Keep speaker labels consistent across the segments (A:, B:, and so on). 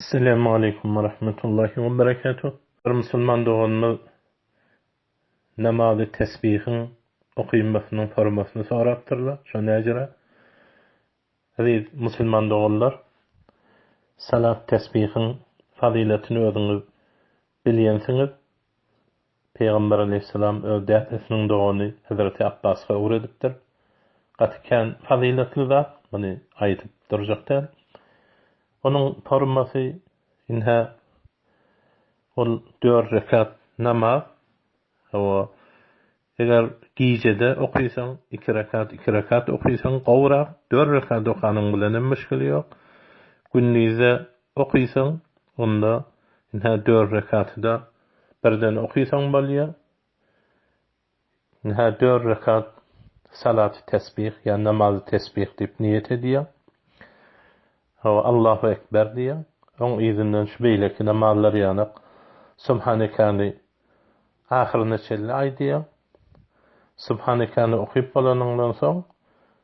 A: Selam aleýkum we rahmetullahi we berekatuh Bir musulman doganymyz namazy tesbihiň okynmasynyň formasyny sorapdyrlar şo näcere Eziz musulman doganlar salat tesbihiň fazylatyny özüňiz bilýänsiňiz Pygamber aleýhissalam öz dädesiniň dogany Hezreti Apbaska ugur edipdir. Gaty kän fazyletli zat, muny aýdyp durjak däl. Onuň formasy ynha ol dört rekat namaz, hawa, eger gijede okysaň, iki rekat, iki rekat okysaň gowrak, dört rekat okanyň bilen hem müşgili ýok. Gündize okysaň, onda ynha dört rekaty-da Birden okysaň bolýa. Hä dört rekat salaty tesbih ýa namazy tesbih diýip niýet edýäň. Hawa Allahu ekber diýýäň. Oň yzyndan şu beýleki namazlar ýanak Subhanekany ahyryna çenli aýdýaň. Subhanekany okyp bolanyňdan soň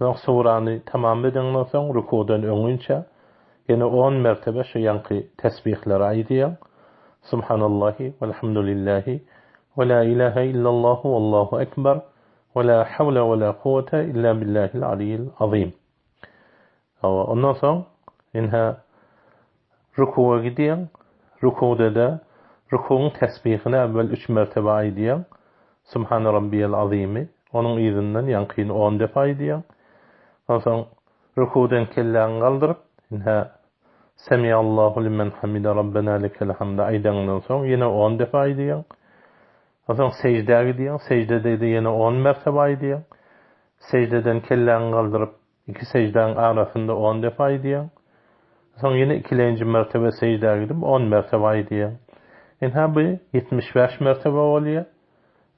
A: Soň surany tamam edeňden soň rukudan öňinçä ýene on mertebe şu ýaňky tesbihleri aýdýaň, Subhanallahi welhamdulillahi we la ilahe illallahu wallahu ekber we la hawle we la kuwwete illa billahil aliyyil azym. Hawa, ondan soň ine rükuga gidýäň, rükugda-da rükugyň tesbihini äwwel üç mertebe aýdýaň, Subhana Rabbiyel Azymy, onuň yzyndan ýaňkyny on depe aýdýaň, onsoň rükugdan kelläňi galdyryp, ine Semiallahu limen hamide Rabbena lekel hamd aýdaňdan soň ýene on depe aýdýaň, onsoň seždä gidýäň, seždede-de ýene on mertebe aýdýaň, seždeden kelläňi galdyryp, Iki seždäň arasynda on depe aýdýaň. Soň ýene ikilenji mertebe seždä gidip on mertebe aýdýaň. Ynha bu ýetmiş bäş mertebe bolýar.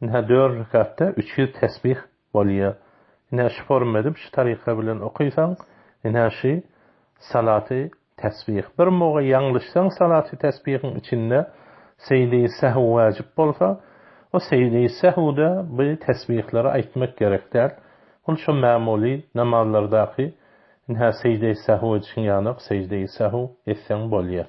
A: Ynha dört rekatda üç ýüz tesbih bolýar. Ynha şu forma edip şu taryka bilen okaýsaň ynha şu salaty Tesbih. Bir muga ýalňyşsaň salaty tesbihiň içinde seýdi sehw wajyp bolsa, o seýdi sehwde bu tesbihleri aýtmak gerek däl. Ol şo mämuly namazlardaky, ynha seýdi sehw edişiň ýaly-ak seýdi sehw etseň bolýar.